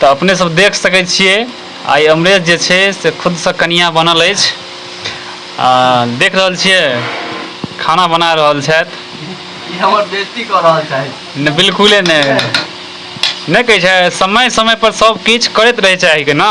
तऽ अपने सब देख सकै छियै आइ अमरेश जे छै से खुदसँ कनिया बनल अछि आ देख रहल छियै खाना बना रहल छथि ई हमर बेइज्जती कऽ रहल छथि नहि बिल्कुले नहि नहि कहै छै समय समय पर सब किछु करैत रहै चाही के ने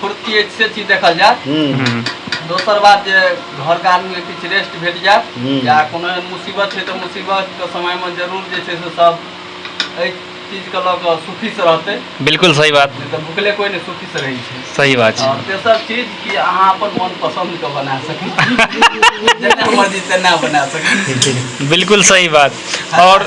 फुर्ती अछि से चीज देखल जाय हम्म, हम्म, दोसर बात जे घर के आदमी के किछु रेस्ट भेट जाय हम्म। या कोनो एहन मुसीबत छै तऽ मुसीबत के समय मे जरूर जे छै से सब एहि चीज के लऽ कऽ सुखी से रहतै बिल्कुल सही बात नहि तऽ भुखले कोई नहि सुखी से रहै छै सही बात छै आओर तेसर चीज कि अहाँ अपन मन पसन्द के बना सकै छी जेना मर्जी तेना बना सकै छी बिल्कुल सही बात और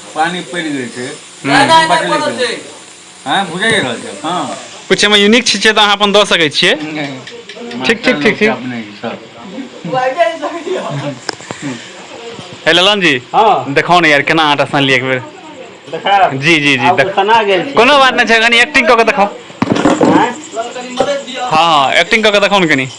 पानी पड़ि गेल छै हँ बुझै रहल छै हँ कुछ एहिमे यूनिक चीज छै तऽ अहाँ अपन दऽ सकै छियै ठीक ठीक ठीक ठीक हे ललन जी हँ देखाउ ने यार केना आटा सानलियै एक बेर देखाब जी जी जी देख सना गेल छी कोनो बात नहि छै कनि एक्टिंग कऽ के देखाउ हँ हँ एक्टिंग कऽ के देखाउ ने कनि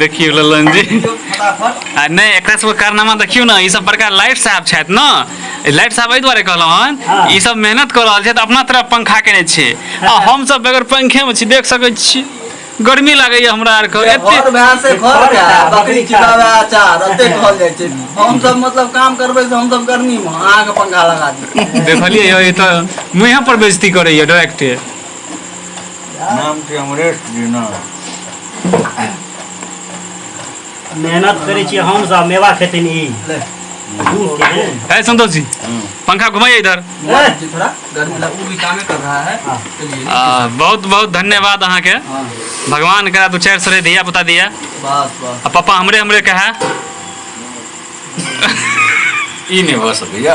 देखियौ ललन जी आ नहि एकरा सबके कारनामा देखियौ ने ई सब बड़का लाइट साहब छथि ने लाइट साहब एहि दुआरे कहलहुँ हन हाँ। ई सब मेहनत कऽ रहल छथि अपना तरफ पंखा केने छै आ हाँ। हम सब बगैर पंखे में छी देख सकै छी गर्मी लागैए हमरा आरके एतेक बकरी खिलाबे अचार एते कहल जाइ छै हम सब मतलब काम करबै से हम सब गर्मी में अहाँ के पंखा लगा दी देखलिए यौ ई तऽ मुँहे पर बेइज्जती करैए डायरेक्टे नाम छै अमरेश जेना मेहनत करै छियै हम सब मेवा खेथिन ई है संतोष जी पंखा घुमाइए इधर थोड़ा गर्मी लग वो भी कामे कर रहा है चलिए आ, बहुत बहुत धन्यवाद अहाँ के हाँ भगवान करा दू चारि सरे धिया पुता दिया बस बस आ पापा हमरे हमरे कहे ई नहि भऽ सकैया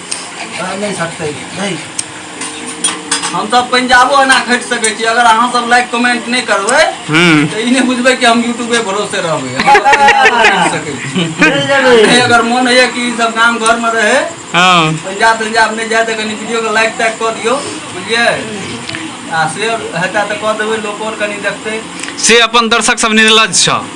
अरे नहीं सकते नहीं हम सब पंजाबो एना खटि सकै छी अगर अहाँ सब लाइक कमेंट नहि करबै हम्म तऽ ई नहि बुझबै कि हम यूट्यूबे भरोसे रहबै हम सब पंजाबो खटि सकै छी चल जाबे नहि अगर मोन होइए कि ई सब गाम घरमे रहै हाँ पंजाब तंजाब नहि जाए तऽ कनि वीडियोके लाइक ताइक कऽ दियौ बुझलियै आ शेयर हेतै तऽ कऽ देबै लोको आर कनि देखतै से अपन दर्शक सब निर्लज छ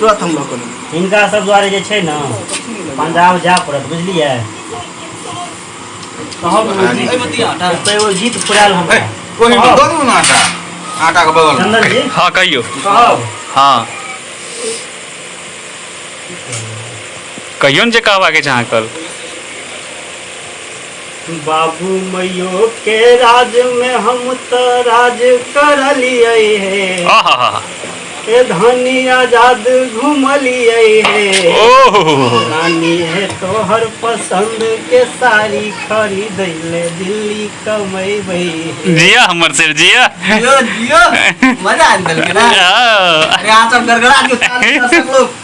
तुरंत हम लोग हिनका सब द्वारे जे छै ने पंजाब जाय पड़त बुझलियै कहब एगो गीत फुरायल हम आटा के बगल चंदन जी हाँ कहियो कहब हाँ कहियो ने जे कहबाके छै अहाँ कल बाबू मइयो के राज में हम त राज करलियै हे आहा ए धनी आजाद घुमलियै हे ओह रानी हे तोहर पसंद के साड़ी खरीद ले दिल्ली कमैबै हे जिया हमर सर जिया जियो जियो मजा आबि गेल के ना आ। अरे अहाँ सब गड़गड़ा के साथ दर्शक लोग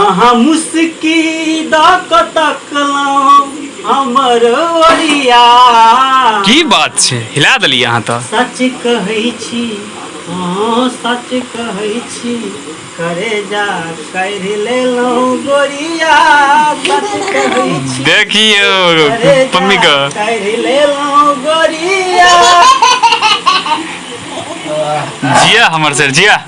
अहाँ मुस्की दऽ कऽ तकलहुँ हमर ओरिया की बात छै हिला देलियै अहाँ तऽ सच कहै छी हँ सच कहै छी करे जा करि लेलहुँ गोरिया सच कहै छी देखियौ करे जा पम्मी के करि लेलहुँ गोरिया जिया हमर सर जिया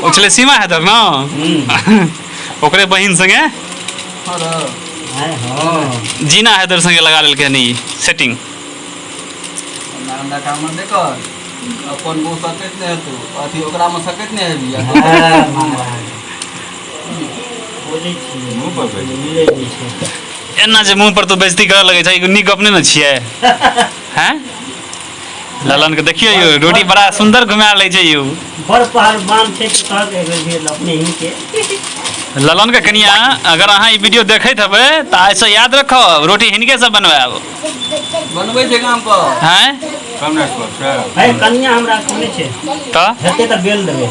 ओ छलै सीमा हैदर ने ओकरे बहिन संगे जीना हैदर संगे लगा लेलकै हन ई सेटिंग अपन वो सकैत नहि हेतौ अथी ओकरामे सकैत नहि हेबी एना जे मुँह पर तो बेजती करऽ लगै छै नीक गप नहि ने छियै हैं ललन के देखियो यौ रोटी बड़ा सुंदर घुमा ले छै यौ बड़ पहलवान छै तऽ कहत एगो भेल अपने ही के ललन के कनिया अगर अहाँ ई वीडियो देखैत हेबै तऽ आइ से याद रखब रोटी हिनके से बनवाएब बनबै छै गाम पर हैं है कनिया हमरा कहने छै तऽ हेतै तऽ बेल देबै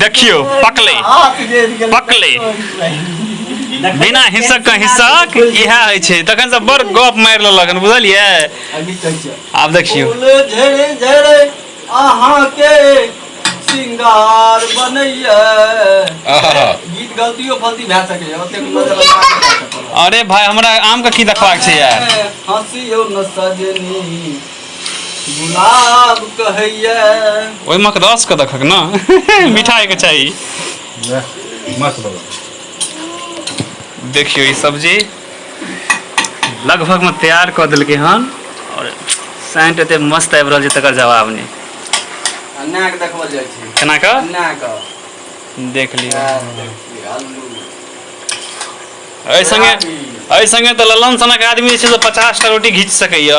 देखियौ पकले पकले बिना हिस्सक का हिस्सक इएह होइ छै तखन से बड़ गप मारि लेलक हन बुझलियै आब देखियौ अहाँके सिंगार बनैया गीत गलतियो फलती भए सकैया ओतेक अरे भाई हमरा आम के की देखबाक छै यार हंसियो न सजनी गुलाब कहैया ओहिमे के रस के देखक ना मीठा के चाहिए मस्त बाबा देखियो ई सब्जी लगभग में तैयार कर दिल के हन और सेंट एते मस्त आबि रहल छै तकर जवाब नहीं अन्ना के देखबल जाइ छै केना का अन्ना के देख लियो यार देखिए आलू एहि संगे एहि संगे तऽ ललन सनक आदमी जे छै से पचास टा रोटी घीच सकैया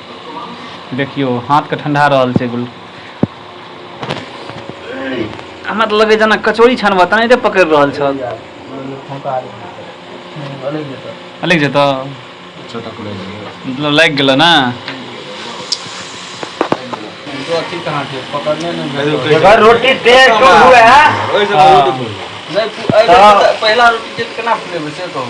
देखियो हाथ के ठंडा रहल छै गुल हमरा तऽ लगे जेना कचौड़ी छानबा तने एते पकड़ रहल छल अलग जेत मतलब लागि गेल ने रोटी तेज तो हुए है हाँ। तो- पहला रोटी केना फुलेबे से कहू